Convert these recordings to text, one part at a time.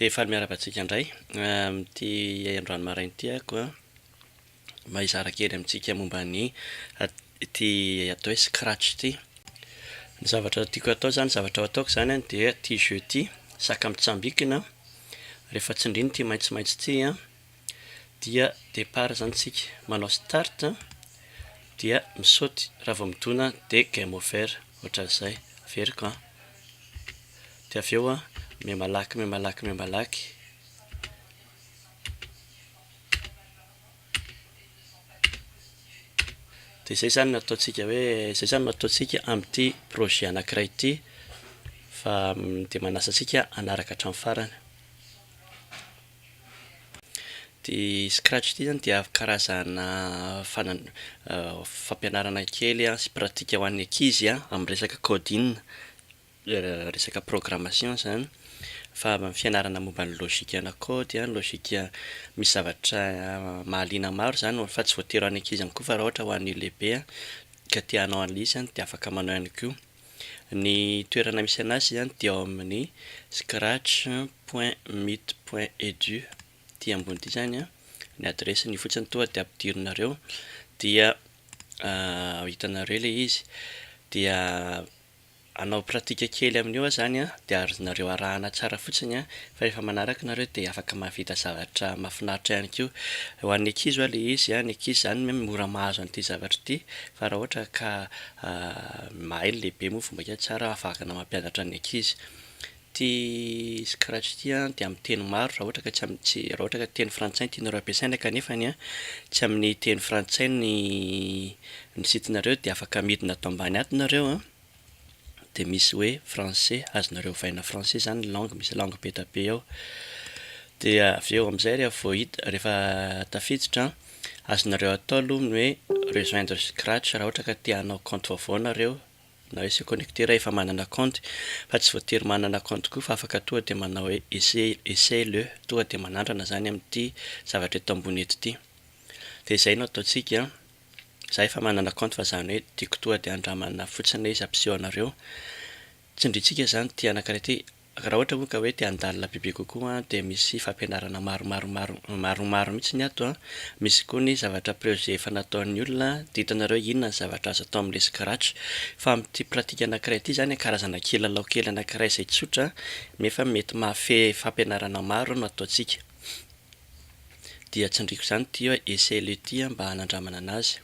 Dia faly miarahaba antsika indray amin'ity androany maraina ity ah koa mba hizara kely amintsika momba ny ity atao hoe scratch ity. Ny zavatra tiako atao zany, zavatra ataoko zany an dia ity jeu ity, saka mitsambikina, rehefa tsindrina ity maitsomaitso ity an, dia départ zany tsika manao start dia misaoty raha vao midona dia game over ohatran'izay averiko an dia avy eo an mihamalaky mihamalaky mihamalaky dia izay zany no ataontsika hoe izay zany no ataontsika amin'ity projet anankiray ity fa dia manasa antsika hanaraka hatramin'ny farany Ity scratch ity zany dia karazana fampianarana kely sy pratika ho an'ny ankizy amin'ny resaka coding, resaka programmation izany. Fa fianarana momba ny logika-na kaody, logika misy zavatra mahaliana maro izany fa tsy voatery ho an'ny ankizy ihany koa fa raha ohatra ho an'ny lehibe ka te hanao an'ilay izy dia afaka manao ihany koa. Ny toerana misy anazy izany dia ao amin'ny scratch point mit point edu ity ambony ity izany an, ny adiresiny io fotsiny toa dia ampidirinareo dia hitanareo ilay izy dia hanao pratika kely amin'io aho izany an dia azonareo arahana tsara fotsiny an, fa rehefa manaraka ianareo dia afaka mahavita zavatra mahafinaritra ihany koa, ho an'ny ankizy ho'a ilay izy an, ny ankizy izany mora mahazo an'ity zavatra ity fa raha ohatra ka A, mahay ny lehibe moa vao maika tsara afahana mampianatra ny ankizy. Ity scratch ity an dia amin'ny teny maro raha ohatra ka tsy amin'ny tsy, raha ohatra ka teny frantsay no tianareo ampiasaina kanefany an tsy amin'ny teny frantsay ny ny site nareo dia afaka midina ato ambany ato nareo an, dia misy hoe français azonareo ovaina français izany ny langue, misy langue be dia be ao. Dia avy eo amin'izay rehefa voahid- rehefa tafiditra an Azonareo atao aloha ny hoe rejoindre scratch raha ohatra ka te hanao compte vaovao nareo na hoe se connecter raha efa manana compte fa tsy voatery manana compte koa fa afaka tonga dia manao hoe essaye le tonga dia manandrana izany amin'ity zavatra eto ambony eto ity dia izay no ataontsika an! Za efa manana compte fa izany hoe tiako tonga dia handramana fotsiny ilay izy hampiseho anareo tsindrintsika izany ity anankiray ity Raha ohatra moa ka hoe te handalina bebe kokoa dia misy fampianarana maromaromaromaromaromaro mihitsy ny ato an, misy koa ny zavatra prejet efa nataon'ny olona dia hitanareo inona ny zavatra azo atao amin'ilay scratch fa amin'ity pratique anankiray ity izany karazana kilalao kely anankiray izay tsotra nefa mety mahafehy fampianarana maro no ataontsika dia tsindriako izany ity hoe essaie le ity mba hanandramana anazy.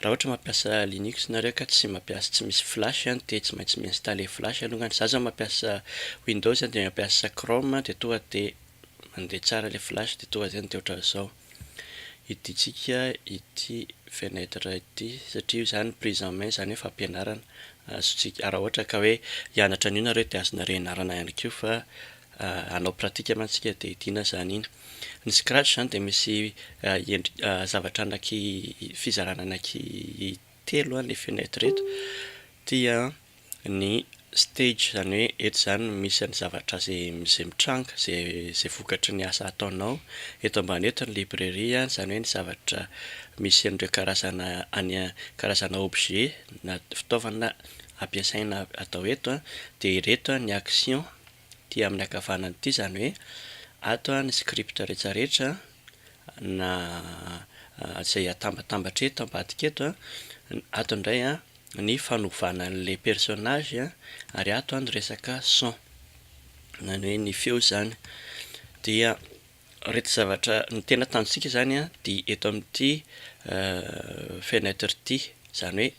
Raha ohatra mampiasa linux nareo ka tsy mampiasa tsy misy flash an dia tsy maintsy mi-installer flash alongany, za zao mampiasa windows dia mampiasa chrome dia tonga dia mandeha tsara ilay flash dia tonga zay dia ohatran'izao hidintsika ity fenêtre ity satria io zany prise en main zany hoe fampianarana azontsika raha ohatra ka hoe hianatra an'io nareo dia azonareo ianarana ihany koa fa hanao pratique mantsika dia hidiana izany iny. Ny scratch izany dia misy zavatra anaky fizarana anaky telo ny fenetre eto, dia ny stage izany hoe eto izany misy an'ny zavatra izay mitranga, izay vokatry ny asa ataonao, eto ambany eto ny librairie izany hoe ny zavatra misy an'ireo karazana any karazana objet na fitaovana ampiasaina atao eto dia ireto ny action. Ety amin'ny ankavanana ety izany hoe ato ny script rehetra rehetra na izay atambatambatra eto ambadika eto, ato indray ny fanovana an'ilay personnage ary ato ny resaka son, izany hoe ny feo izany dia. Ireto zavatra ny tena tanjontsika izany dia eto amin'ity fenêtre ity, izany hoe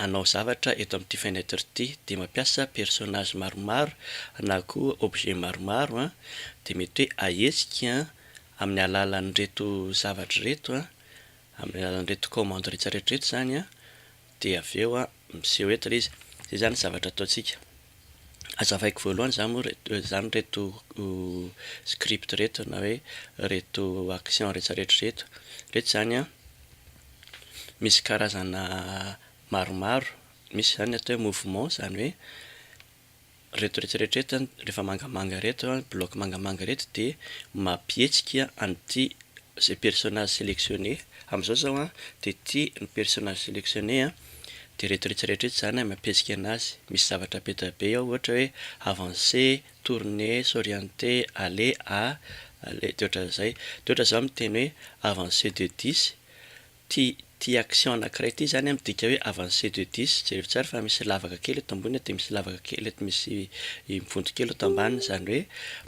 hanao zavatra eto amin'ity fenêtre ity dia mampiasa personnage maromaro na koa objet maromaro dia mety hoe ahetsika amin'ny alalan'ireto zavatra ireto, amin'ny alalan'ireto commande rehetra rehetra ireto izany dia avy eo miseho eto ilay izy. Izay izany zavatra ataontsika. Hazavaiko voalohany izany moa izany ireto script ireto na hoe ireto action rehetra rehetra ireto. Ireto izany an, misy karazana maromaro. Misy izany atao hoe mouvement, izany hoe Reto rehetra rehetra rehefa mangamanga reto an, bloc mangamanga reto dia mampihetsika an'ity zay personnage selectionné amzao zao an, dia ity ny personnage selectionné an, dia reto rehetra rehetra reto zany an mampihetsika anazy, misy zavatra be dia be ao ohatra hoe avancer, tourner, s'orienter, aller, a, aller, dia ohatran'izay, dia ohatra zao miteny hoe avancer de dix, Ity ity action anankiray ity izany midika hoe avancé de dix, jereo tsara fa misy lavaka kely eto ambony dia misy lavaka kely eto misy vonto kely eto ambaniny izany hoe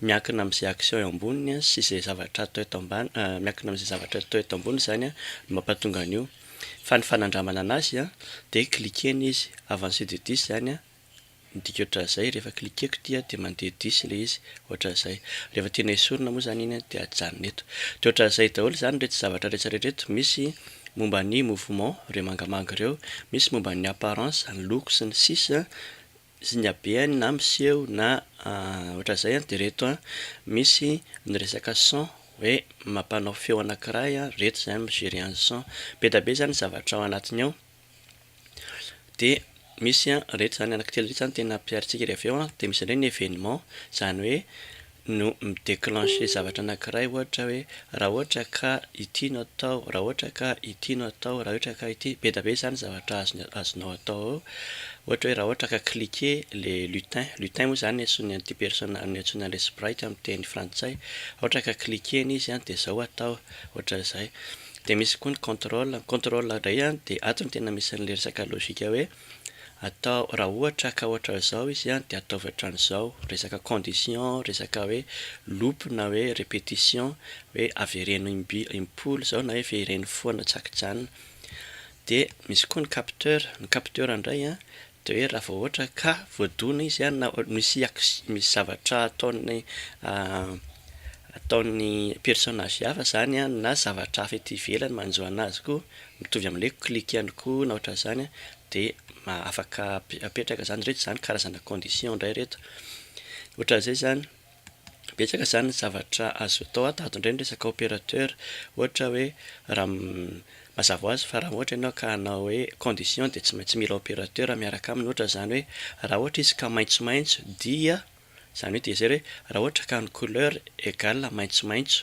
miankina amin'izay action eo amboniny sy izay zavatra atao eto ambany miankina amin'izay zavatra atao eto ambony izany no mampatonga an'io fa ny fanandramana an'azy dia cliquer-ny izy, avancé de dix izany an! Midika ohatran'izay, rehefa cliquer-ko ity dia mandeha diso ilay izy, ohatran'izay. Rehefa tiana hesorina moa izany iny dia ajanona eto. Dia ohatran'izay daholo izany ireto zavatra rehetra ireto, misy momba ny mouvement, ireo mangamanga ireo, misy momba ny apparence, ny loko sy ny sisa, sy ny habeany na miseho na ohatran'izay an, dia ireto misy ny resaka son, hoe mampanao feo anankiray, ireto izany mi-gerer an'ny son. Be dia be izany ny zavatra ao anatiny ao. Dia misy an, rehetra izany anankitelo rehetra izany tena ampiharintsika ery avy eo an, dia misy indray ny événement, izany hoe no mi-déclencher zavatra anankiray ohatra hoe raha ohatra ka ity no atao, raha ohatra ka ity no atao, raha ohatra ka ity, be dia be izany ny zavatra azonao atao eo, ohatra hoe raha ohatra ka cliquer le lutin, lutin moa izany antsoina an'ity persona, antsoina an'ilay sprite amin'ny teny frantsay, raha ohatra ka cliquer-ny izy an dia izao atao, ohatra izay. Dia misy koa ny contrôle. Ny contrôle indray an, dia ato no tena misy an'ilay resaka logika hoe, atao, raha ohatra ka ohatran'izao izy an, dia ataovy ohatran'izao. Resaka condition, resaka hoe loop na hoe répétition, hoe avereno imby, impolo izao na hoe vereno foana tsy ankijanona. Dia misy koa ny capteur. Ny capteur indray an, Dia hoe raha vao ohatra ka voadona izy an, na misy acci, misy zavatra ataon'ny ataon'ny personnage hafa izany an, na zavatra hafa ety ivelany manjo anazy koa, mitovy amin'ilay hoe clic ihany koa na ohatran'izany an, dia ma- afaka ape- apetraka izany. Ireto izany karazana condition indray ireto. Ohatran'izay izany. Betsaka izany ny zavatra azo atao ato ato indray ny resaka opérateur ohatra hoe raha mazava ho azy fa raha ohatra ianao ka hanao hoe condition dia tsy maintsy mila opérateur miaraka aminy ohatra izany hoe raha ohatra izy ka maitsomaitso dia izany hoe dia izay hoe raha ohatra ka ny couleur égale maitsomaitso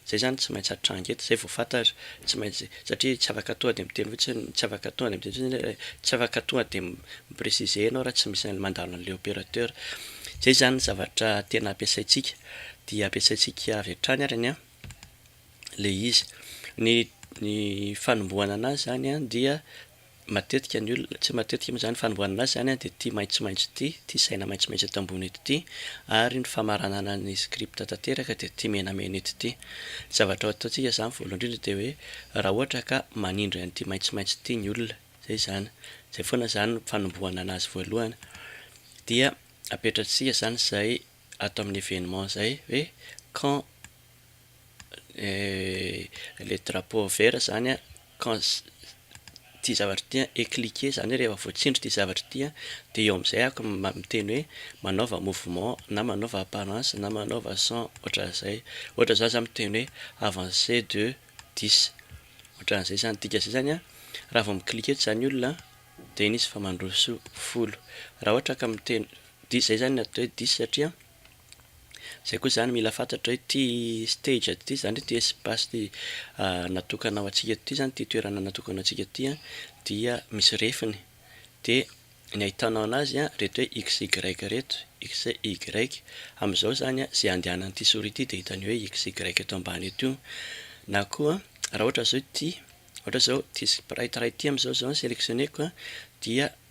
Zay zany tsy maintsy atranga eto zay vao fantatra tsy maintsy satria tsy afaka tonga de miteny fotsiny tsy afaka tonga de miteny fotsiny hoe tsy afaka tonga de mi-preciser enao raha tsy misy anle mandalo anle operateur zay zany zavatra tena ampiasaintsika dia ampiasaintsika avy hatrany ary ny le izy ny ny fanombohana anazy zany dia Matetika ny olona, tsy matetika moa zany, fanombohanana asa zany dia ity maitsomaitso ity, ity saina maitsomaitso eto ambony eto ity, ary ny famaranana ny script tanteraka dia ity menamena eto ity. Ny zavatra ataontsika zany voalohany indrindra dia hoe raha ohatra ka manindry an'ity maitsomaitso ity ny olona, zay izany, zay foana zany no fanombohana anazy voalohany, dia apetratsika zany zay ato amin'ny evenement zay hoe quand, le drapeau vert zany an, ity zavatra ity an, est cliquer zany hoe rehefa voatsindry ity zavatra ity an, dia eo amin'izay aho miteny hoe manaova mouvement na manaova apparence na manaova son ohatran'izay, ohatra za zany miteny hoe avancer de dix, ohatran'izay zany, dikan'izay zany an, raha vao mi cliquer eto zany olona an, dia iny izy fa mandroso folo, raha ohatra ka miteny, dix, zay zany ny atao hoe dix satria an. Zay koa zany mila fantatra hoe ty stage ty zany hoe ty espace ty natokana ho antsika ty zany ty toerana natokana ho antsika ty an dia misy refiny de ny ahitanao anazy an reto hoe x y reto, x y amizao zany an ze andehanan'ity souris ty de hitany hoe x y eto ambany eto io na koa raha ohatra zao ty ohatra zao ty sprite ray ty amizao zao selectionner-ko an dia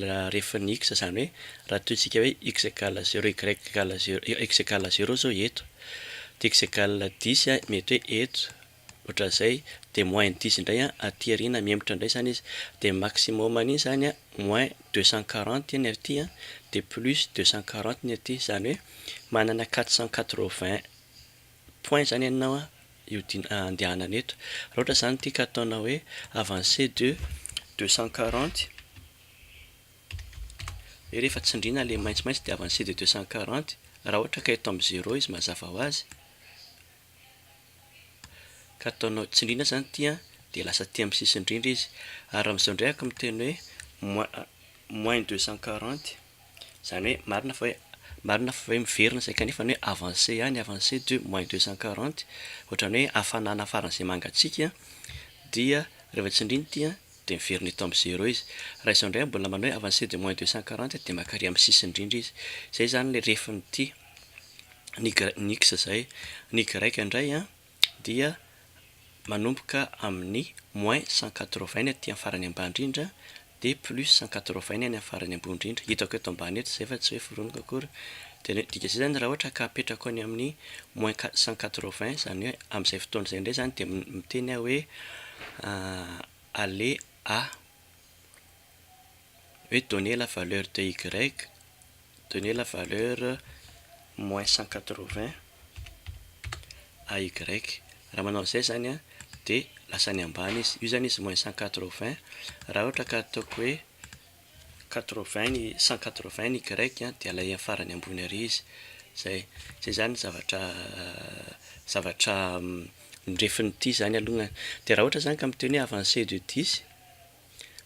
la ref ny x izany hoe raha tohintsika hoe x égale zéro y égale zéro x égale zéro izao eto dia x égale dix mety hoe eto ohatran'izay dia moins ny dix indray aty aoriana mihemotra indray izany izy dia maximum an'iny izany moins deux cent quarante ny aty dia plus deux cent quarante ny aty izany hoe manana quatre cent quatre vingt point zany ianao a io din andehanana eto raha ohatra zany ity ka ataonao hoe avancé de deux cent quarante de rehefa tsindriana le maitsomaitso de avancé de deux cent quarante raha ohatra ka eto am zéro izy mazava ho azy ka ataonao tsindriana zany ity a de lasa aty am sisin-drindra izy ary amzao ndray aky miteny hoe moins moins deux cent quarante Izany hoe marina fa hoe marina fa hoe miverina izay kanefa ny hoe avancer ihany avancer de moins deux cent quarante ohatrany hoe hafanana faran'izay mangatsiaka dia rehefa tsindrina ity an dia miverina eto amin'ny zero izy. Raha izao indray mbola manao hoe avancer de moins deux cent quarante dia maka ary amin'ny sisiny indrindra izy. Izay izany ilay refin'ity ny ny x izay. Ny y indray an. dia manomboka amin'ny moins cent quatre-vingts ny aty amin'ny farany ambany indrindra dia plus cent quatre-vingts ny any amin'ny farany ambony indrindra, hitako eto ambany eto izay fa tsy hoe foroniko akory, dia ny dika izay izany raha ohatra ka apetrako any amin'ny moins cent quatre-vingts izany hoe amin'izay fotoana izay indray izany dia miteny aho hoe aller à. hoe donner la valeur de y, donner la valeur moins cent quatre-vingts à y, raha manao izay izany dia lasa any ambany izy, io izany izy moins cent quatre-vingts, raha ohatra ka ataoko hoe quatre-vingts ny cent quatre-vingts ny y dia alay amin'ny farany ambony ary izy, izay izany ny zavatra zavatra norefin'ity izany alohany, dia raha ohatra izany ka miteny hoe avancer de dix.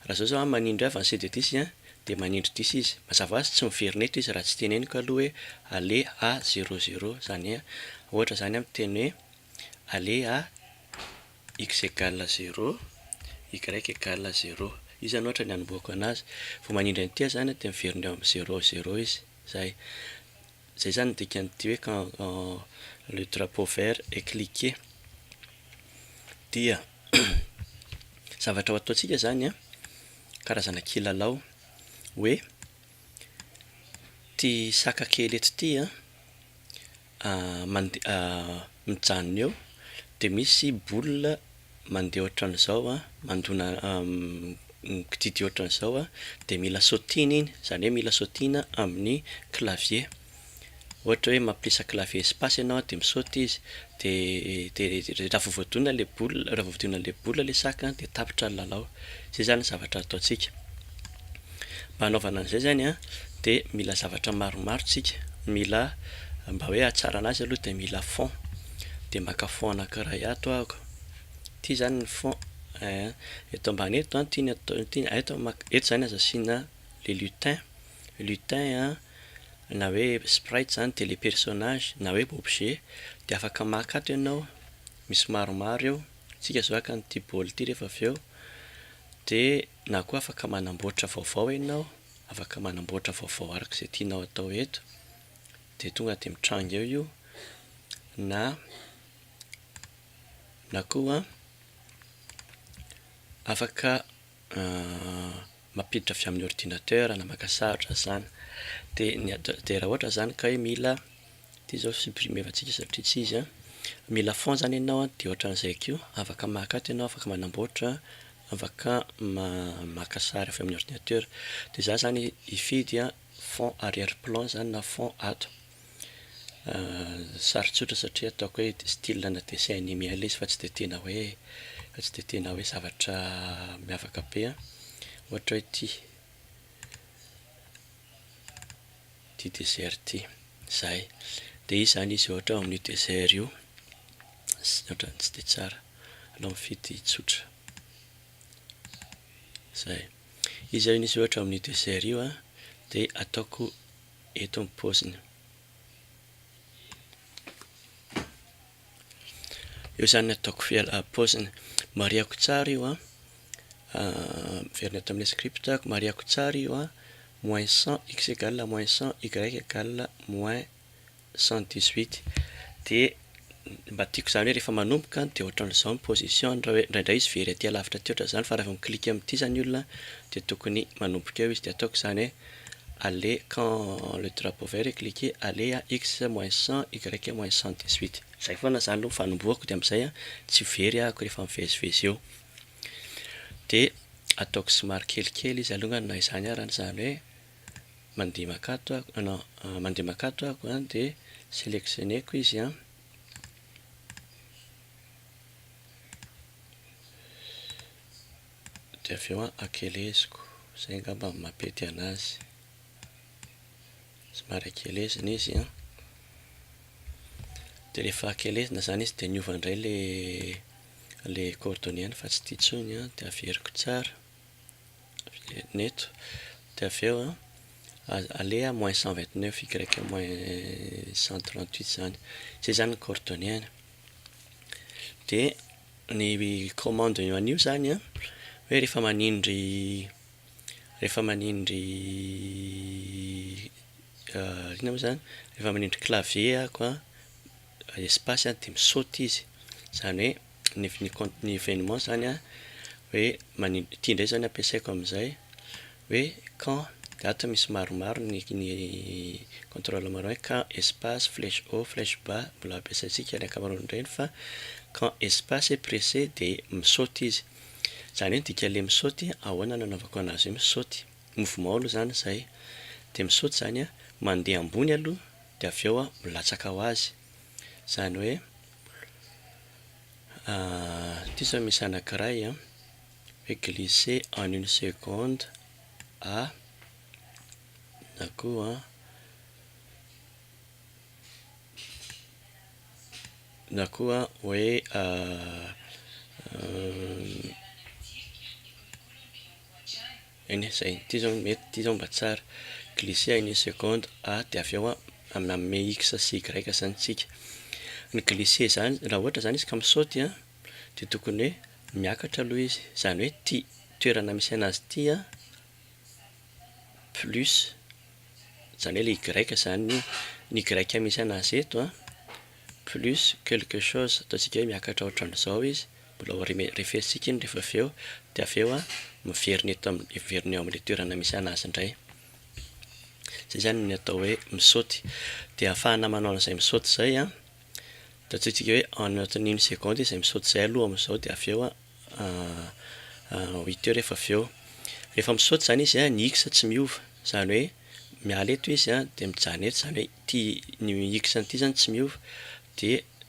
Raha zao zao an manindry ahy Vincent de Dissy an de manindry Dissy izy mazava ho azy tsy miverina eto izy raha tsy teneniko aloha hoe aller à zero zero zany hoe ohatra zany an miteny hoe aller à x egal à zero y egal à zero io zany ohatra ny anombohako anazy vao manindry an'ity aho zany an de miverina eo amin'ny zero zero izy zay zay zany ny dikan'ity hoe quand le drapeau vert est cliquer dia zavatra ho ataontsika zany an, karazana kilalao hoe ty saka kely eto ty an, mande- mijanona eo de misy boule mandeha ohatran'izao an, mandona mikididy ohatran'izao an, de mila sautihina iny, zany hoe mila sautihina amin'ny clavier. ohatra hoe mampiasa clavier espace ianao dia misaoty izy dia dia raha vao voadona ilay boule raha vao voadona ilay boule ilay sac an dia tapitra ny lalao, izay izany ny zavatra ataontsika. Mba hanaovana an'izay izany an dia mila zavatra maromaro isika, mila mba hoe hahatsarana azy aloha dia mila fond, dia maka fond anankiray ato aho, ity izany ny fond ee, eto ambany eto an ity ny atao ity, eto izany aza asiana le lutin, lutin an. na hoe sprite zany dia le personnage na hoe objet dia afaka maka ato ianao misy maromaro eo tsika zao haka an'ity bol ity rehefa avy eo dia na koa afaka manamboatra vaovao ianao afaka manamboatra vaovao araka izay tianao atao eto dia tonga dia mitranga eo io na na koa afaka mampiditra avy amin'ny ordinateur na maka sarotra zana dia ny dia raha ohatra zany ka hoe mila ity zao supprimer antsika satria tsy izy a mila fond zany ianao a dia ohatran'izay ko afaka maka ato ianao afaka manamboatra afaka maka sary avy amin'ny ordinateur dia za zany hifidy a fond arrière plan zany na fond ato Sary tsotra satria ataoko hoe style ana dessin anime ilay izy fa tsy dia tena hoe, fa tsy dia tena hoe zavatra miavaka be an. Ohatra hoe ity, ity desert ity, izay. Dia izy izany izy ohatra amin'io desert io, sy ny ohatran'ny tsy dia tsara. Aleo mifidy tsotra. Izay. Izy zany izy ohatra amin'io desert io an, dia ataoko. eto ny paoziny. Io zany ataoko fiala paoziny. Marihako tsara io an. Miverina eto amin'ny scriptako, marihako tsara io an. Moins 100, x égale moins 100, y égale moins 118. Dia mba tiako izany hoe rehefa manomboka an, dia ohatran'izao ny position an, raha hoe indraindray izy very aty alavitra aty ohatran'izany, fa raha vao mi-clique amin'ity izany olona an, dia tokony manomboka eo izy, dia ataoko izany hoe aller quand le drapeau vert est cliqué, aller à X moins cent, Y moins cent dix huit, izay foana izany no fanombohako, dia amin'izay an, tsy very ahako rehefa mivezivezy eo, dia ataoko somary kelikely izy alongany na izany ara, na izany hoe Mandeha makato aho, ah non, mandeha makato aho an, dia selectionner-ko izy an. Dia avy eo an, akeleziko. Izay angamba no mampety anazy. Somary akelezina izy an. Dia rehefa akelezina izany izy dia miova indray ilay, ilay coordonnées-ny fa tsy ity intsony an, dia averiko tsara. ny eto dia avy eo an, aleha moins cent vingt neuf y moins cent trente huit izany, izay izany ny coordonnées-ny, dia ny commande eo an'io izany an, hoe rehefa manindry rehefa manindry inona moa izany? rehefa manindry clavier aho an, espace dia mi-saute izy, izany hoe. ny ny compte ny evenement zany a hoe manin ity indray zany ampiasaiko amizay hoe quand date misy maromaro ny ny controle maromaro hoe quand espace flèche haut flèche bas mbola ampiasaintsika ny ankamaroany reny fa quand espace et presse de misaoty izy zany hoe ny dika le misaoty ahoana no anaovako anazy hoe misaoty mouvement aloha zany zay de misaoty zany a mande ambony aloha de avy eo a milatsaka ho azy zany hoe Ity zao misy anankiray an, hoe glisser en une seconde à na koa na koa hoe Eny, izay. Ity izao mety, ity izao mba tsara. Glisser à une seconde a dia avy eo manome x sy y izany isika. Ny glisser izany, raha ohatra izany izy ka misaoty a, dia tokony hoe miakatra aloha izy, izany hoe ity toerana misy anazy ity a, plus, izany hoe ilay y izany ny ny y misy anazy eto a, plus quelque chose, ataontsika hoe miakatra ohatran'izao izy. Mbola ho refesitsika iny rehefa avy eo, dia avy eo miverina eto amin'ny, miverina eo amin'ilay toerana misy an'azy indray. Izay izany ny atao hoe mi-sauter. Dia ahafahana manao an'izay mi-sauter izay an, ataontsika hoe ao anatin'ny une seconde izay mi-sauter izay aloha amin'izao dia avy eo ho hita eo rehefa avy eo. Rehefa mi-sauter izany izy an, ny X tsy miova, izany hoe miala eto izy an, dia mijanona eto, izany hoe ity, ny X an'ity izany tsy miova, dia.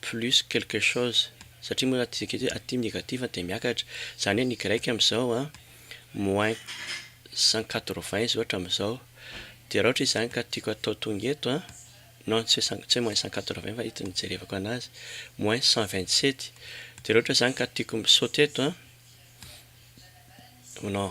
plus quelque chose satria moa aty aty aty negatif dia miakatra zany hoe ny grec amizao a moins cent quatre vingt izy ohatra amizao dia raha ohatra izy zany ka tiako atao tonga eto a non tsy hoe tsy hoe moins cent quatre vingt fa ito nijerevako anazy moins cent vingt sept dia raha ohatra zany ka tiako mi-sauter eto a non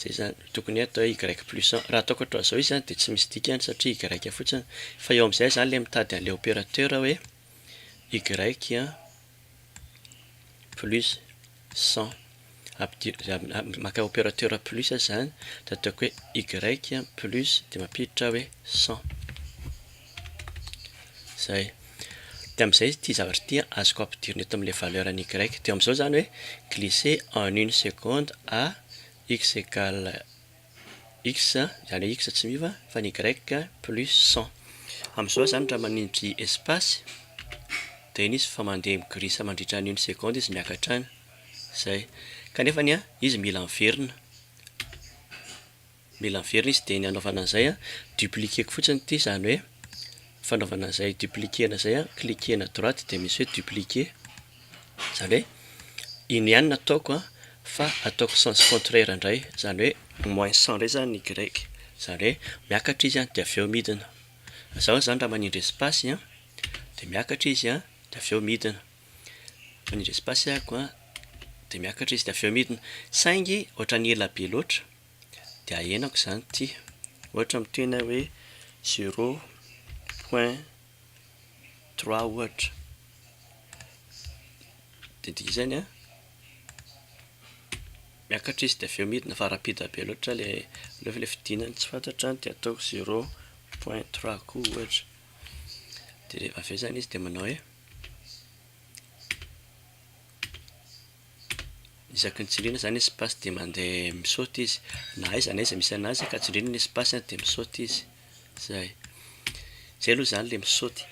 Zay zany tokony atao y plus un. Raha ataoko hatrizao izy zany dia tsy misy dikany satria y fotsiny. Fa eo amin'izay zany ilay mitady an'ilay opérateur hoe y plus cent. Ampidir- maka opérateur plus zany dia ataoko hoe y plus dia mampiditra aho hoe cent. Izay. Dia amin'izay ity zavatra ity an, azoko ampidirina eto amin'ilay valeur an'ny y. Dia eo amin'izao izany hoe, glisser en une seconde à x égale x, izany hoe x tsy miova, fa ny y plus cent. Amin'izao izany raha manindry espace, dia iny izy fa mandeha mi-glisse mandritra ny une seconde izy miakatra any. Izay. Kanefany an, izy mila miverina. Mila miverina izy dia ny hanaovana an'izay a, dupliquer-ko fotsiny ity izany hoe fanaovana an'izay dupliquer-na izay a, cliquer-na à droite dia misy hoe dupliquer, izany hoe iny ihany no ataoko a, fa ataoko sens contraire indray, izany hoe moins cent indray izany ny y, izany hoe miakatra izy dia avy eo midina, izaho izany raha manindry espace a, dia miakatra izy a, dia avy eo midina, manindry espace aho dia miakatra izy dia avy eo midina, saingy ohatran'ny ela be loatra. dia ahenako izany ity, ohatra mitohy ny ahy hoe zero point trois ohatra, dia ny dikan'izany an, miakatra izy dia avy eo midina fa rapide be loatra ilay nefa ilay fidinany tsy fantatra dia ataoko zero point trois koa ohatra, dia avy eo izany izy dia manao hoe. isaky ny tsindriana izany espace dia mandeha misaute izy na aiza na aiza misy anazy ka tsindriana ny espace an dia misaute izy, izay, izay aloha izany ilay misaute,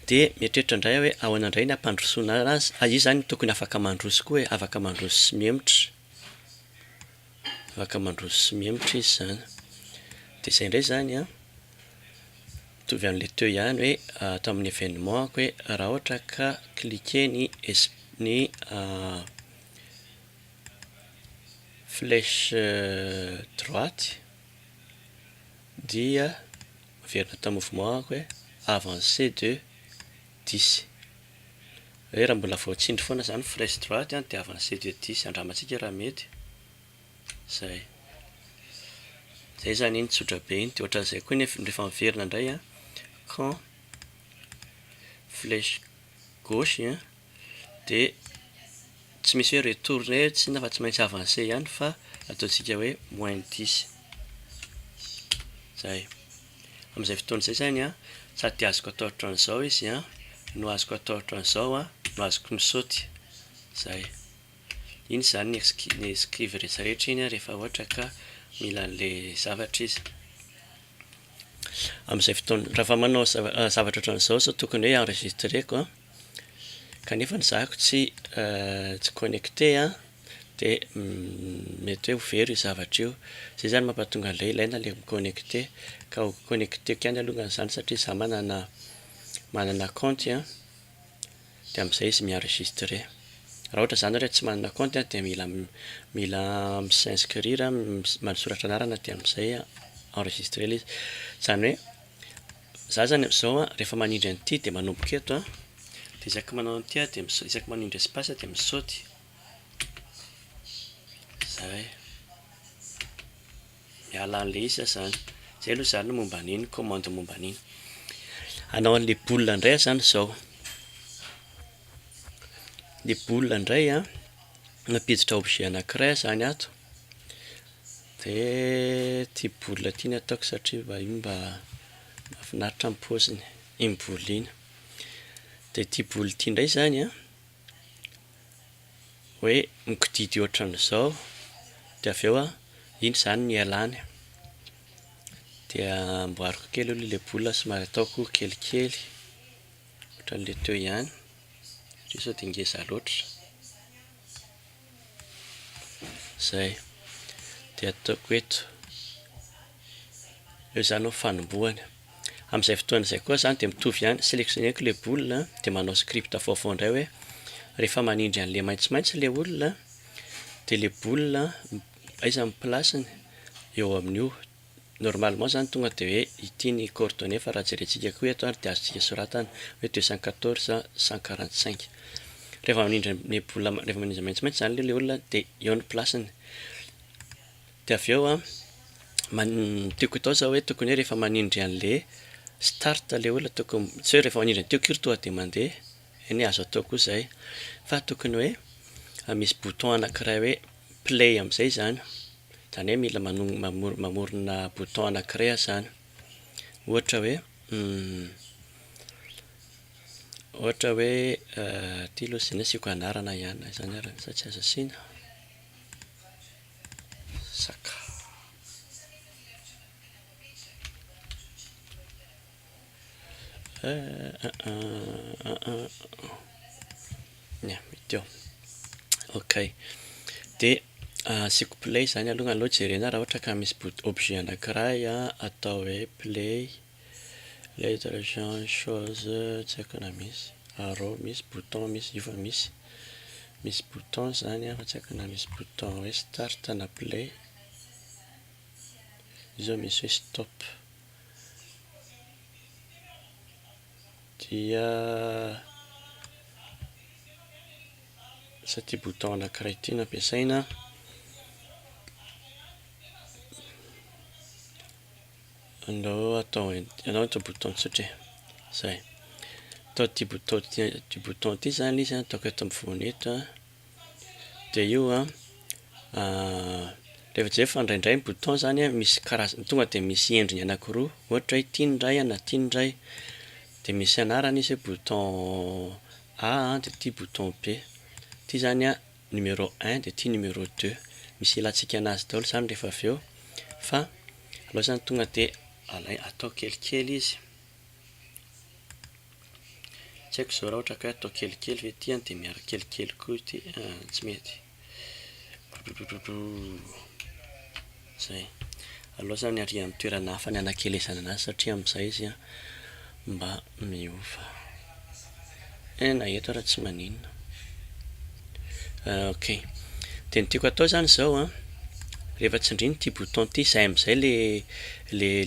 dia mieritreritra indray aho hoe ahoana indray ny hampandrosoana azy, a izy izany tokony afaka mandroso koa e, afaka mandroso sy mihemotra. Afaka mandroso sy mihemotra izy izany. Dia izay indray izany an, mitovy an'ilay teo ihany hoe ato amin'ny événement-ko hoe raha ohatra ka cliquer ny es- ny flèche droite dia miverina tao amin'ny mouvement-ko hoe avancer de dix. Hoe raha mbola vao tsindry foana izany fresh droite an, diavina sy ety edisy, andramantsika raha mety. Zay. Zay zany iny tsotra be iny, de ohatran'izay koa nef- rehefa miverina indray an, quand flèche gauche an, de tsy misy hoe retourner tsy inona fa tsy maintsy avancer ihany fa ataontsika hoe moins dix. Zay. Amin'izay fotoana izay izany an, sady azoko atao ohatran'izao izy an, no azoko atao ohatran'izao an, no azoko misaoty. Izay. Iny izany ny excu- ny excuse rehetra rehetra iny an, rehefa ohatra ka mila an'ilay zavatra izy. Amin'izay fotoana, raha fa manao zava- zavatra ohatran'izao izao tokony hoe enregistreko an, kanefa ny zahako tsy tsy connecté an. dia mety hoe ho very io zavatra io, izay izany mampatonga an'ilay ilaina ilay mi-connecter, ka ho connecteko ihany alongany izany satria izaho manana manana kaonty an, dia amin'izay izy mi-enregistrer, raha ohatra izany ianareo tsy manana kaonty an dia mila mila mi-s'inscrire, manosoratra anarana dia amin'izay enregistrer ilay izy, izany hoe izaho izany amin'izao an rehefa manindry an'ity dia manomboka eto an, dia isaky manao an'ity an dia isaky manindry espace dia misaoty. Zay miala anle izy zany zany, zay aloha zany momba an'iny commande momba an'iny, hanao anle boule ndray zany zao, le boule ndray an, mampiditra objet anakiray ah zany ato, de ty boule ty no ataoko satria mba io mba mafinaritra ny poziny, iny boule iny, de ty boule ty ndray zany an. hoe mikididy ohatran'izao dia avy eo iny izany no ialany dia amboariko kely aloha ilay boule somary ataoko kelikely ohatran'ilay teo ihany satria sao dia ngeza loatra izay dia ataoko eto Eo izany no fanombohany. Amin'izay fotoana izay koa izany dia mitovy ihany, selectionner-ko ilay boule dia manao script vaovao indray hoe rehefa manindry an'ilay maitsomaitso ilay olona dia ilay boule aiza ny place-ny eo amin'io. Normalement izany tonga dia hoe ity ny coordonnées fa raha jerentsika koa eto ary dia azontsika soratana hoe deux cent quatorze cent quarante cinq. Rehefa manindry an'ilay boule rehefa manindry an'ilay maitsomaitso izany ilay olona dia eo ny place-ny. Dia avy eo an, ny tiako atao zao hoe tokony hoe rehefa manindry an'le start le olona tokony, tsy hoe rehefa manindry an'i tiako io tonga dia mandeha, eny azo atao koa izay, fa tokony hoe misy bouton anankiray hoe play amin'izay izany, izany hoe mila manonona, mamorona bouton anankiray aho izany, ohatra hoe, ohatra hoe ity aloha asiako anarana ihany, na izany ary sa tsy azo asiana? Saka. Ok, de asiako play zany aloha, aleo jerena raha ohatra ka misy bout objet anakiray atao hoe play. Lettre Jean chose tsy haiko na misy arrow misy bouton misy io fa misy misy bouton zany an fa tsy haiko na misy bouton hoe start na play io zao misy hoe stop dia sa ty bouton anakiray ty no ampiasaina. Andao atao ent andao atao bouton tsotra e zay atao ity bouton ity ity bouton ity zany izy an ataoko eto amin'ny voany eto a dia io a rehefa jereo fa indraindray ny bouton zany a misy karazany tonga dia misy endriny anankiroa ohatra hoe ity ny iray na ity ny iray dia misy anarany izy hoe bouton A dia ity bouton B ity zany a numéro un dia ity numéro deux misy ilantsika anazy daholo izany rehefa avy eo fa aleo izany tonga dia alay atao kelikely izy tsy haiko izao raha ohatra ka hoe atao kelikely ve ity dia miaraka kelikely koa ity tsy mety Zay. Aleo zany aria am toerana hafa ny hanakelezana anazy satria amzay izy mba miova. Eh na eto ara tsy maninona. Ok. De ny tiako atao zany zao an, rehefa tsindriny ty bouton ty, zay amzay le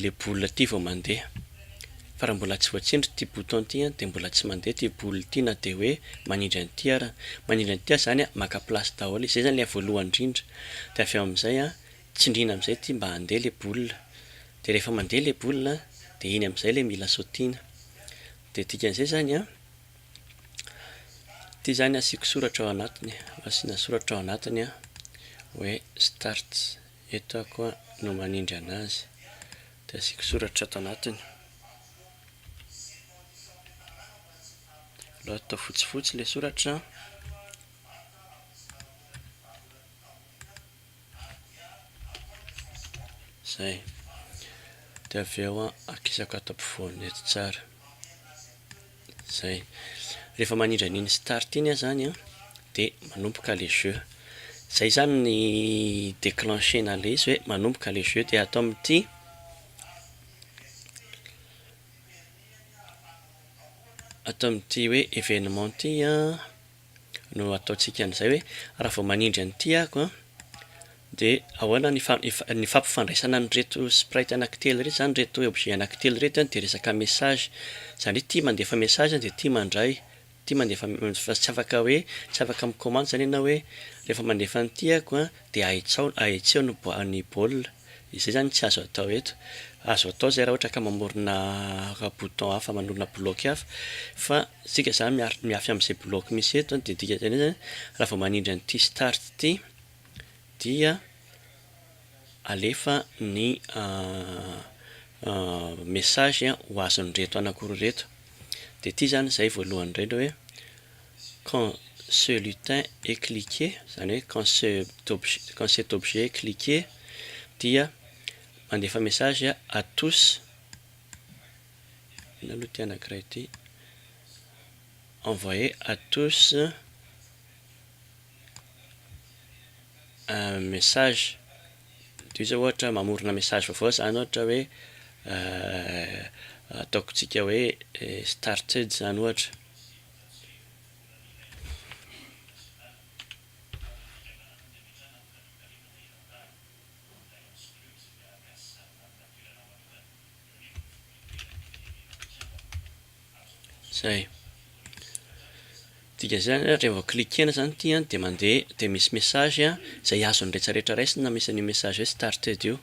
le boule ty vao mandeha. Fa raha mbola tsy voatsindry ity bouton ity an dia mbola tsy mandeha ity boule ity na dia hoe manindry an'ity ara. Manindry an'ity aza zany an maka place daholo izy. Zay zany ilay voalohany indrindra. Dia avy eo amin'izay an tsindriana amin'izay ity mba handeha ilay boule. Dia rehefa mandeha ilay boule an dia iny amin'izay ilay mila sautine. Dia dikan'izay zany an, ity zany asiako soratra ao anatiny e. Asiana soratra ao anatiny an hoe start. Eto aho koa no manindry an'azy. Dia asiako soratra ato anatiny. Aleo atao fotsifotsy ilay soratra. Izay. Dia avy eo akisako ato ampovoany eto tsara. Zay. Rehefa manindra an'iny start iny ah zany an, de manomboka le jeu. Zay zany ny declencher-na le izy hoe manomboka le jeu de ato amin'ity, ato amin'ity hoe événement ity an, no ataontsika an'izay hoe raha vao manindry an'ity ako dia ahoana ny ny fampifandraisana an'ireto sprite anankitelo ireto izany ireto objet anankitelo ireto dia resaka message izany hoe ity mandefa message dia ity mandray ity mandefa fa tsy afaka hoe tsy afaka mi-commande izany ianao hoe rehefa mandefa an'ity ako Dia ahitsao na ahitseo ny ny baolina, izay izany tsy azo atao eto. Azo atao izay raha ohatra ka mamorona bouton hafa, manorina bloc hafa, fa isika izany miaritra mihafy amin'izay bloc misy eto an, dia ny dikan'izany izany an, raha vao manindry an'ity start ity dia alefa ny message ho azon'ireto anankiroa ireto. Dia ity izany izay voalohany indrindra hoe. Quand ce lutin est cliqué, izany hoe quand ce objet, quand cet objet est cliqué, dia mandefa message à tous, inona aloha ity anankiray ity, envoyer à tous un message, toy izao ohatra hoe mamorona message vaovao izany ohatra hoe ataoko tsika hoe started izany ohatra. Zay. Dika zay zany revo cliquena zany ty an de mande de misy message an zay azo ny rehetra rehetra raisina misy an'io message hoe started io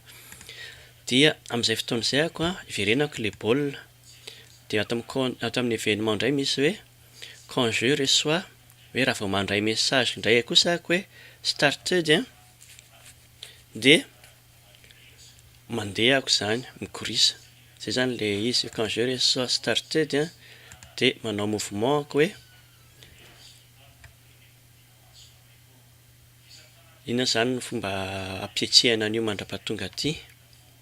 dia amizay fotoana zay ako an hiverenako le baolina Dia ato amin'ny con- ato amin'ny événement indray misy hoe quand je reçois hoe raha vao mandray message indray aho kosa aho hoe started an, dia mandeha aho izany, mikorisa. Izay izany ilay izy, quand je reçois started an, dia manao mouvement aho hoe, inona izany no fomba hampietsehana an'io mandra-pahatonga aty?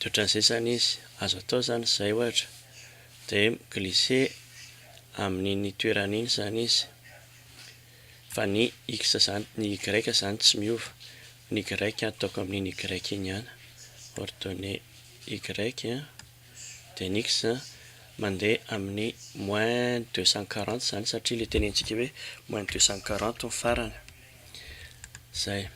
De otrany zay zany izy, azo atao zany zay ohatra de mi-glisser amin'iny toerana iny zany izy fa ny X zany, ny Y zany tsy miova, ny Y ataoko amin'iny Y iny ihany, ordonne Y an, de ny X mandeha amin'ny moins deux cent quarante zany satria le tenentsika hoe moins deux cent quarante ny farany, zay.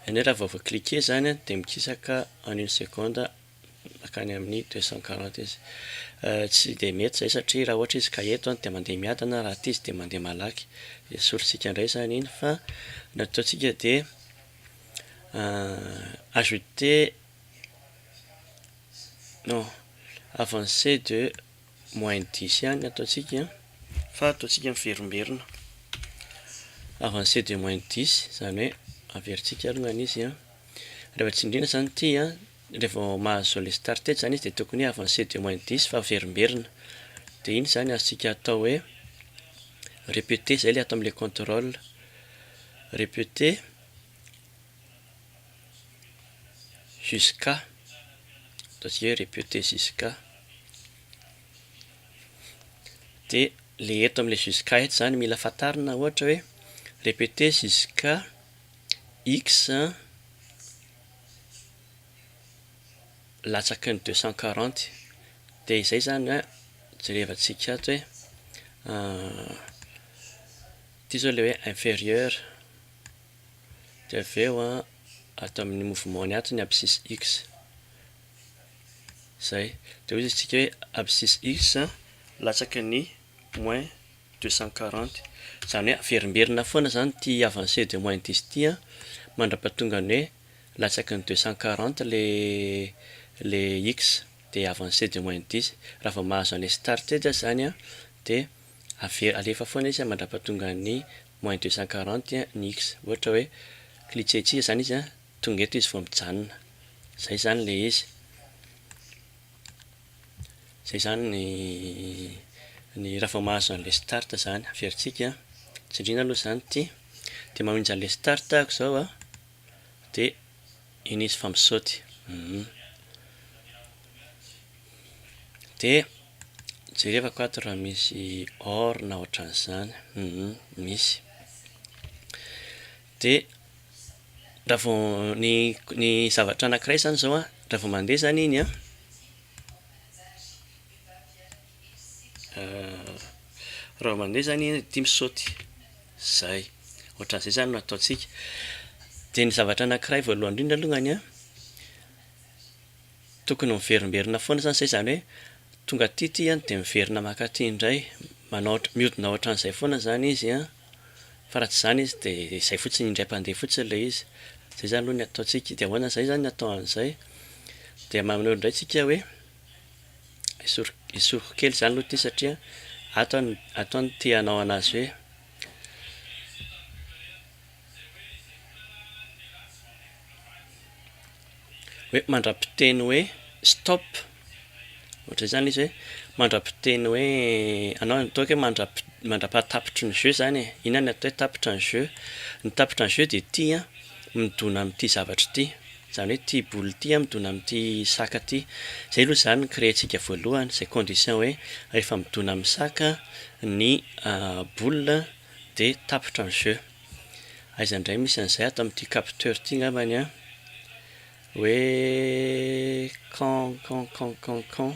Any raha vao vao cliquer izany a dia mikisaka en une seconde mankany amin'ny deux cent quarante izy. Tsy dia mety izay satria raha ohatra izy ka eto dia mandeha miadana, raha aty izy dia mandeha malaky. Esorintsika indray izany iny fa ny ataontsika dia ajouter non avancer de. Moins dix ihany ataontsika an, fa ataontsika miverimberina avancée de moins dix, izany hoe averintsika alongany izy an, rehefa tsindriana izany ity an, rehefa vao mahazo le start etsy izany izy dia tokony hoe avancée de moins dix fa averimberina, dia iny izany azontsika atao hoe répéter izay ilay ato amin'ilay contrôle, répéter. Jusqu'à, ataontsika hoe répéter jusqu'à, dia ilay eto amin'ilay jusqu'à eto izany mila fantarina ohatra hoe répéter jusqu'à X latsaky ny deux cent quarante, dia izay izany an, jerevantsika ato hoe ity izao ilay hoe inférieur. dia avy eo an ato amin'ny mouvement-ny ato ny abscisse X izay dia hoy isika hoe abscisse X latsaky ny moins deux cent quarante izany hoe averimberina foana izany ity avancé de moins dix ity an mandrapahatonga ny hoe latsaky ny deux cent quarante ilay X dia avancé de moins dix raha vao mahazo an'ilay started izany an dia ave- alefa foana izy an mandrapahatonga ny moins deux cent quarante a ny x ohatra hoe klitsetsika zany izy a tonga eto izy vao mijanona zay zany le izy zay zany ny ny raha vao mahazo an'le start zany averintsika a tsindriana aloha zany ity de mamonjy an'le start ako zao a de Iny izy fa misaoty humm. De jerevako ato raha misy or na ohatran'izany humm misy. De raha vao ny ny zavatra anankiray zany zao an, raha vao mandeha zany iny an. Raha mandeha zany ianao tia misaoty, zay, ohatran'izay zany no ataontsika. De ny zavatra anankiray voalohany indrindra alongany an, tokony miverimberina foana zany zay zany hoe tonga aty ity an de miverina maka aty indray, manao ohatra- mihodina ohatran'izay foana zany izy an, fa raha tsy zany izy de zay fotsiny indray mpandeha fotsiny le izy, zay zany aloha ny ataontsika, de ahoana zay zany ny atao an'izay? De maneho indray tsika hoe. esoriko kely izany aloha ity satria ato an ato an tia hanao an'azy hoe hoe mandra-piteny hoe stop ohatra izany izy hoe mandra-piteny hoe anao atao hoe mandra-pi- mandra-pahatapitry ny jeu zany e inona no atao hoe tapitra ny jeu ny tapitra ny jeu dia ity an midona amin'ity zavatra ity Izany hoe ity boule ity midona amin'ity sac ity. Izay aloha izany ny créer-ntsika voalohany, izay condition hoe rehefa midona amin'ny sac ny boule dia tapitra ny jeu. Aiza indray misy an'izay ato amin'ity capteur ity angambany an! Hoe can can can can can.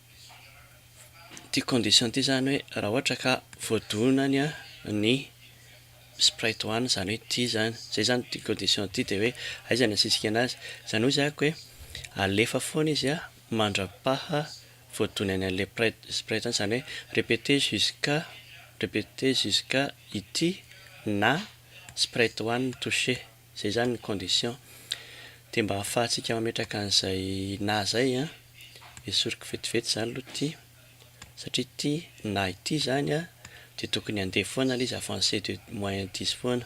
Ity condition ity izany hoe raha ohatra ka voadonany ny sprite one izany hoe ity izany, izay izany ity condition ity dia hoe aiza no asisika an'azy? Izany hoy zako hoe alefa foana izy mandra-paha voadonany an'ilay sprite one, izany hoe répéter jusqu'à, répéter jusqu'à ity na sprite one toucher. Zay zany ny condition. Dia mba ahafahantsika mametraka an'izay na zay an, esoriko vetivety zany aloha ity, satria ity na ity zany an, dia tokony handeha foana le izy avancé de moyen dix foana.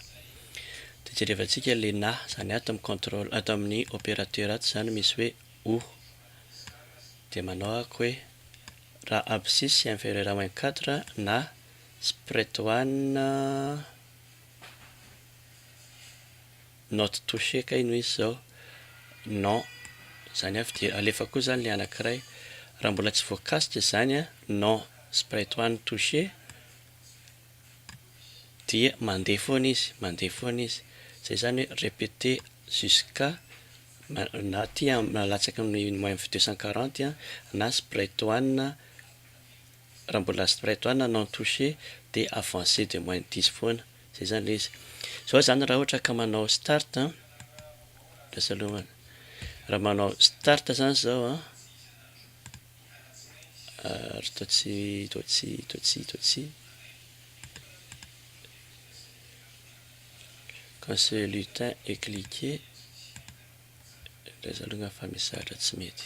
Dia jerevantsika le na zany ato amin'ny contrôle, ato amin'ny opérateur ato zany misy hoe o. Dia manao ahako hoe raha abscisse inférieure à moins quatre na spread one Not touché kay no izy zao. Non, zany avy dia alefa koa zany le anakiray. Raha mbola tsy voakasika izany an, non c'est pas etoany touché, dia mandeha foana izy, mandeha foana izy. Zay zany hoe répéter jusqu'à na aty an, na latsaka amin'ny moins deux cent quarante an, na c'est pas etoany. Raha mbola spray toit na non touché dia avancé de moins dix foana, zay zany le izy. Zao zany raha ohatra ka manao start an, lasa aloha an, raha manao start zany zao an, ary toa tsy toa tsy toa tsy toa tsy quand ce lutin est cliqué, lasa aloha fa misy zavatra tsy mety.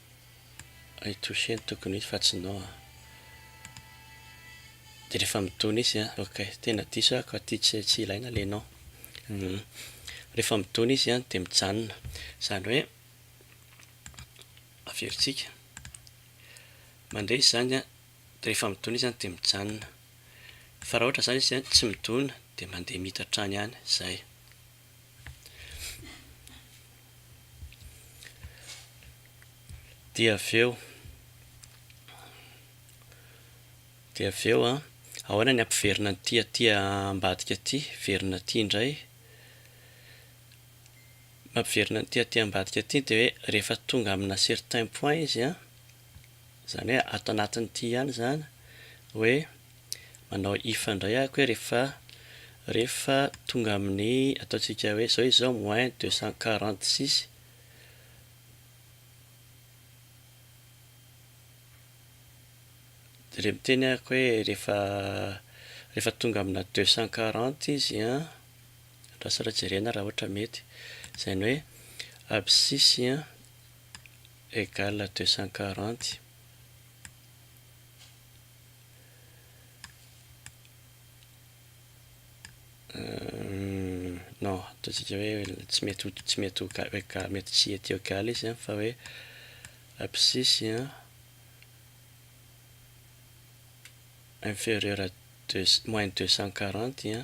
I Touché no tokony hita fa tsy Noa a. Dia rehefa midona izy an, ok, tena diso aho ka ty tsy tsy ilaina le nom. Humm. Rehefa midona izy an dia mijanona. Izany hoe averintsika. Mandre izy izany an, dia rehefa midona izy an dia mijanona. Fa raha ohatra izany izy an tsy midona dia mandeha mita hatrany ihany. Izay. Dia avy eo, dia avy eo an, ahoana ny hampiverina an'ity aty ambadika aty, hiverina aty indray, mampiverina an'ity aty ambadika aty dia hoe rehefa tonga amina certain point izy an, izany hoe ato anatin'ity ihany izany hoe. Manao if ndray ako hoe rehefa rehefa tonga amin'ny ataontsika hoe izao izy izao moins deux cent quarante six dia re miteny ako hoe rehefa rehefa tonga amina deux cent quarante izy an andraso aloha jerena raha ohatra mety izany hoe abscisse an égale deux cent quarante Non, ataontsika hoe tsy mety ho tsy mety ho ga- ga- mety tsy hety eo gala izy an, fa hoe abscisy an inferieur à deux c- moins deux cent quarante an.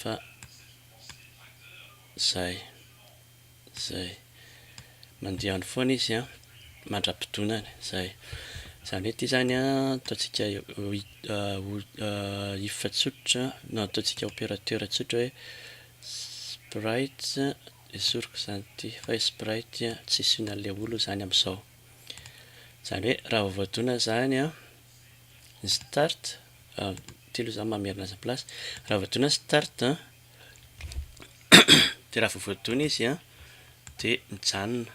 fa zay zay mandiany foana izy an mandra-pidonany zay zany hoe ity zany an ataontsika if tsotra na ataontsika operateur tsotra hoe sprite esoriko izany ity fa hoe sprite tsy hisy olona le olona izany amizao zany hoe raha vao voadona zany an start telo za mamerina azy place raha voadona start de raha vao voadona izy a de mijanona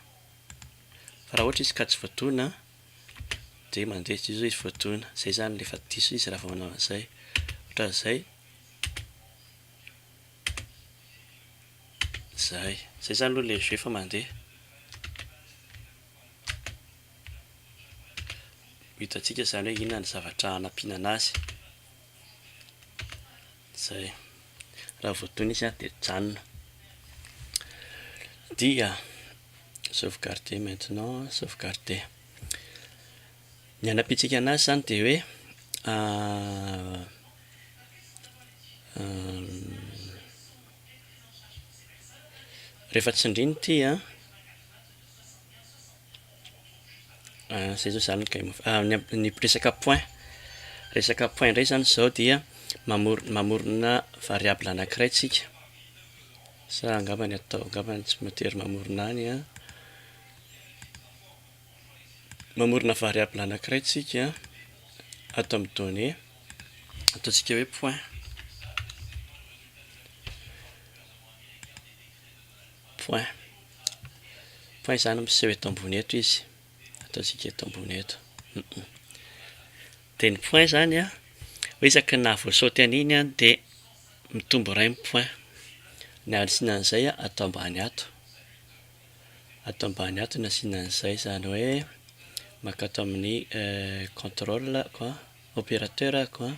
fa raha ohatra izy ka tsy voadona de mandeha zay zao izy voadona zay zany le efa diso izy raha vao manao an'izay ohatran'izay zay zay zany aloha le jeu fa mandeha Ho hitantsika izany hoe inona ny zavatra hanampinana azy. Izay. Raha voadona izy dia mijanona. Dia, sauvegarder maintenant, sauvegarder. Ny hanampintsika anazy izany dia hoe, rehefa tsindrina ity an. Zay zao zany kay moa fa ny amin'ny resaka point, resaka point indray zany zao dia mamor- mamorona variable anankiray tsika sa angamba ny atao angamba ny tsy mitery mamorona any an, mamorona variable anankiray tsika ato amin'ny donnée ataontsika hoe point. Point. Point izany miseho eto ambony eto izy. Ataontsika eto ambony eto. Dia ny point izany an, isaky ny naha voasaoty an'iny an, dia mitombo iray ny point. Ny hasiana an'izay an, atao ambany ato. Atao ambany ato ny hasiana an'izay. Izany hoe mankato amin'ny contrôle ko an, opérateur ko an.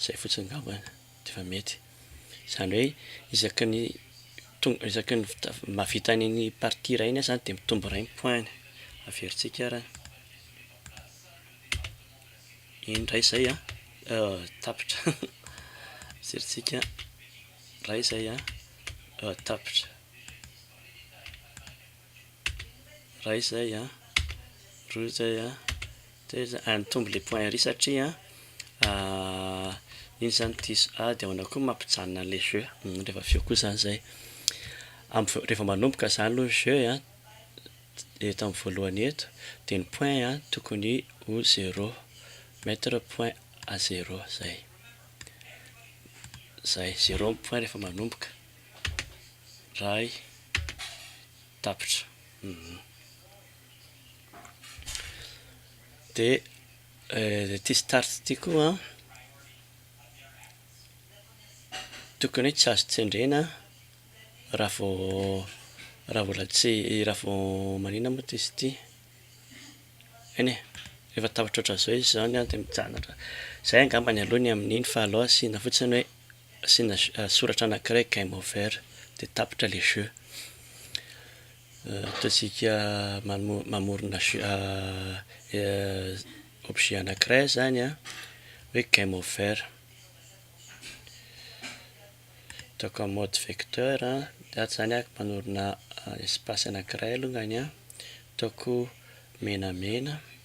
Zay fotsiny ngamba de fa mety. Zany hoe isaky ny tonga isaky ny mahavita an'iny partie iray iny aho zany de mitombo iray ny point-ny. Averintsika ary an. Eny ndray zay an, tapitra. Averintsika ray zay an, tapitra. Iray izay an, roa izay an, telo izay an, ary mitombo ilay point ery satria iny izany diso ady ao anao koa mampijanona an'ilay jeu, rehefa avy eo koa izany izay, rehefa manomboka izany aloha ny jeu an, eto amin'ny voalohany eto, dia ny point an tokony ho zéro, mettre point à zéro izay, izay, zéro ny point rehefa manomboka. Ray tapitra de ity start ity koa tokony tsy azo tsendrena raha vao raha mbola tsy raha vao manina moa izy ity eny e efa tapitra ohatran'izao izy zao dia mijanona ohatran'izay, zay angamba ny aloha ny amin'iny fa aleo asiana fotsiny hoe. Asiana soratra anankiray game over dia tapitra ilay jeu. Ataontsika mamorona objet anankiray izany hoe game over. Ataoko amin'ny mode vecteur dia ato izany aho manorina espace anankiray alongany an, ataoko menamena.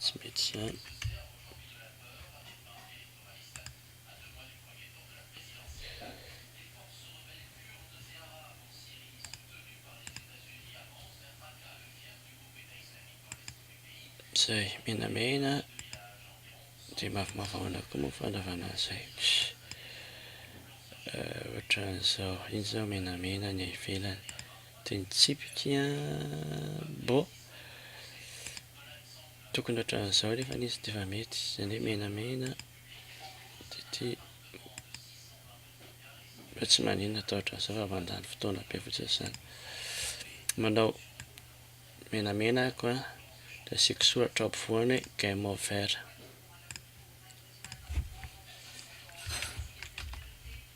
Tsy mety izany. Izay menamena dia mavomavo ao anaty koa moa ny fandrarana an'izay. Ohatran'izao, iny izao menamena ny ivelany. Dia nitsipika bo. Tokony ohatran'izao nefa izy ity fa mety, izany hoe menamena dia ity mba tsy maninona atao ohatran'izao fa mandany fotoana be fotsiny izany. Manao menamena ako a, dia asiako soratra ao ampovoany hoe game over.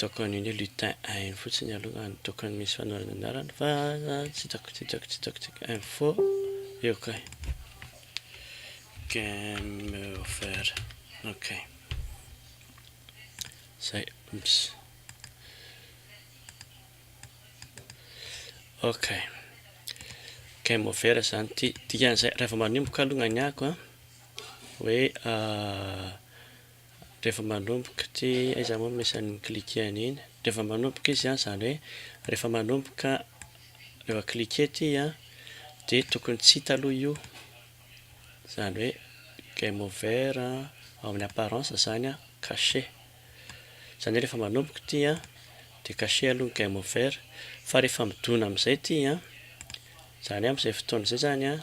Tokan'ny lutin ainy fotsiny aloha ny tokan'ny misy fanorana anarany fa tsy hitako tsy hitako tsy hitako tsy hitako info eo kay game over ok zay ups ok game over zany ity dikan'izay rehefa manomboka aloha ny ako a Hoe rehefa manomboka ty aiza moa no misy an'iny cliquer an'iny? Rehefa manomboka izy an, izany hoe rehefa manomboka rehefa cliquer ty an, dia tokony tsy hita aloha io, izany hoe game over an, ao amin'ny apparence izany an, cacher, izany hoe rehefa manomboka ty an, dia cacher aloha ny game over, fa rehefa midona amin'izay ty an, izany hoe amin'izay fotoana izay izany an,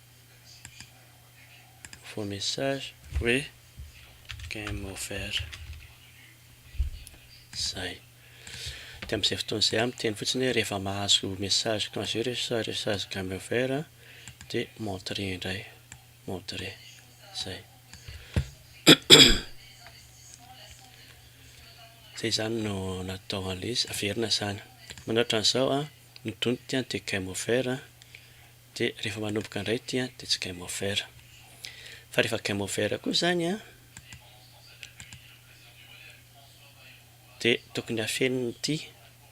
vos messages hoe game over zay de amizay fotoana zay aho miteny fotsiny hoe rehefa mahazo message quand j'ai reçu message game over de m'entrer indray m'entrer zay zay zany no natao anle izy averina zany manoratra an'izao an ny donto dia game over Dia rehefa manomboka indray ity an, dia tsy game over. Fa rehefa game over koa izany an, dia tokony hafenina ity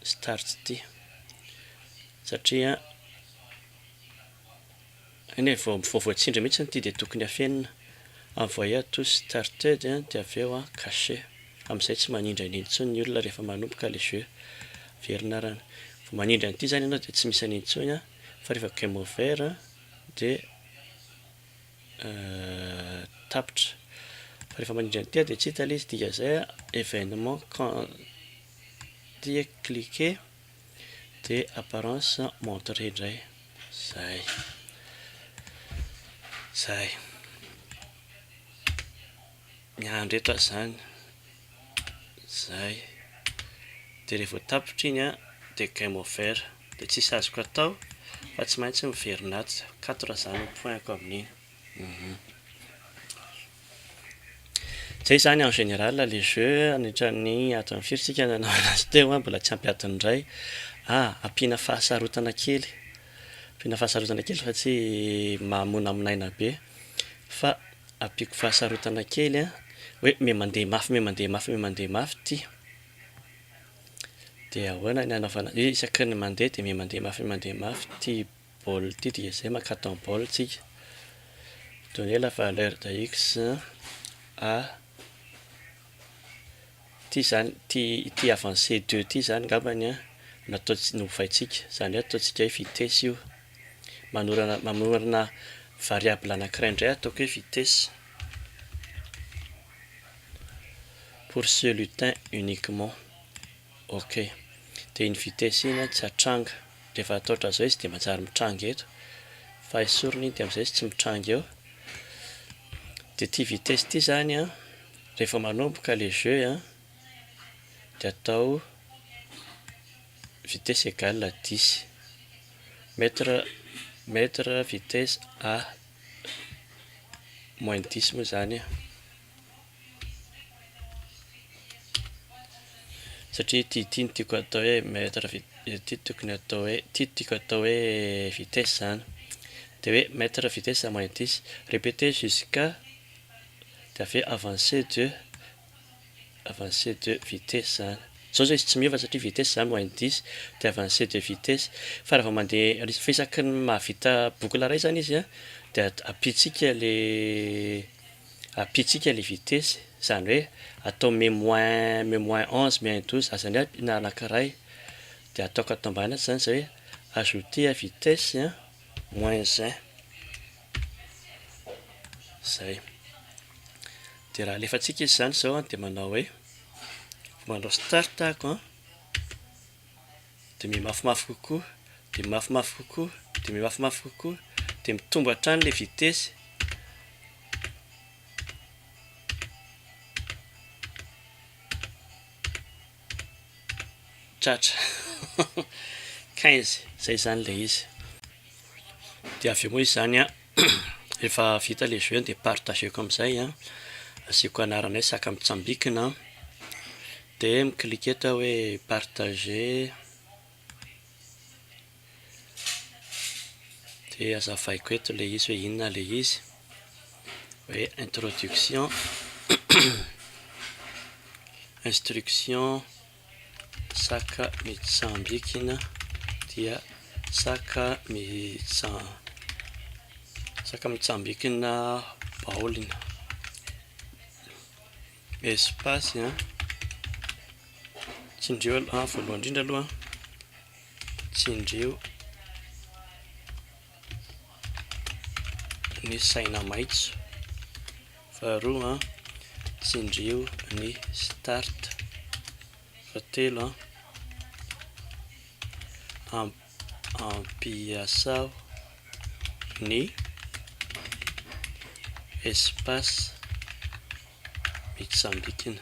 start ity. Satria any vao vao voatsindry mihitsy ity dia tokony hafenina. Envoyer to started dia avy eo an cacher. Amin'izay tsy manindrana intsony ny olona rehefa manomboka ilay jeu. Averina arany. Vao manindry an'ity izany ianao dia tsy misy an'intsony an. Fa rehefa game over dia tapitra. Fa rehefa mandrindra ny tia dia tsy hita ilay izy. Dikan'izay evenement tia cliquer dia apparence montrer indray. Zay. Zay. Ny handretra zany zay de re vo tapitra iny a de game over de tsisy azoko atao fa tsy maintsy miverina ato quatre zany ny point ko amin'iny hum zay zany en general le jeu anitran'ny adin'ny firy tsika nanao anazy teo a mbola tsy ampy adiny iray a ampiana fahasarotana kely ampiana fahasarotana kely fa tsy mamonamonaina be. Fa ampiako fahasarotana kely an, hoe me mandeha mafy me mandeha mafy me mandeha mafy ty dia ahoana ny hanaovana hoe isaky ny mandeha dia me mandeha mafy me mandeha mafy ty bol ty dia izay mankatò ny bol tsika donner la valeur de x a Ity izany, ity ity avancé deux ity izany angambany an, no ataontsika, no ovaintsika. Izany hoe ataontsika hoe vitesse io. Manorana, mamorona variable anankiray indray ataoko hoe vitesse. Pour ce lutin uniquement. Ok. Dia iny vitesse iny an, tsy hatranga. Rehefa atao ohatran'izao izy dia manjary mitranga eto. Fa esorina iny dia amin'izay izy tsy mitranga eo. Dia ity vitesse ity izany an, Rehefa manomboka le jeu an, de atao vitesse égale à dix mètre mètre vitesse a moins dix moa zany an, satria ity ity no tiako atao hoe mètre vit- ity tokony atao hoe ity tiako atao hoe vitesse zany de hoe mètre vitesse moins dix, répéter jusqu'à. de avy eo avancer de avancer de vitesse zany, zao zao izy tsy miova satria vitesse zany moins dix de avancer de vitesse, fa raha vao mande fa isaky ny mahavita boucle ray zany izy a de ampitsika le ampitsika le vitesse zany hoe atao me moins me moins onze moins douze aza ny aby na anakiray de ataoko ato ambany ato zany zay hoe ajouter vitesse moins un. Zay. Dia raha alefantsika izy izany izao dia manao hoe manao start ako an, dia mimafimafy kokoa, dia mimafimafy kokoa, dia mimafimafy kokoa, dia mitombo hatrany ilay vitesse. Tratra. Quinze. Zay izany ilay izy. Dia avy eo moa izany an, rehefa vita ilay jeu dia partageko amin'izay an, asiako anarana hoe saka mitsambikina an, dia mi-cliquer eto aho hoe partager. Dia hazavaiko eto ilay izy hoe inona ilay izy hoe introduction instruction saka mitsambikina dia saka mitsa- saka mitsambikina baolina espace an tsindrio aloha voalohany indrindra aloha an. Tsindrio ny saina maitso. Faharoa, tsindrio ny start. Fahatelo, ampiasao ny espace mitsambikina.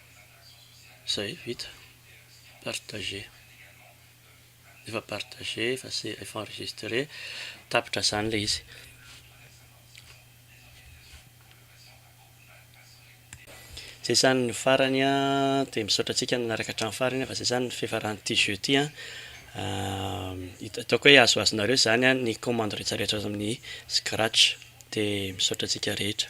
Zay vita, partager, efa partager, efa se- efa enregistrer, tapitra zany le izy. Zay zany ny farany a, de misaotra antsika nanaraka hatramin'ny farany fa zay zany ny fiafaran'ity jeu ty a, ataoko hoe azoazonareo zany a ny commande rehetra rehetra azo amin'ny scratch, de misaotra antsika rehetra.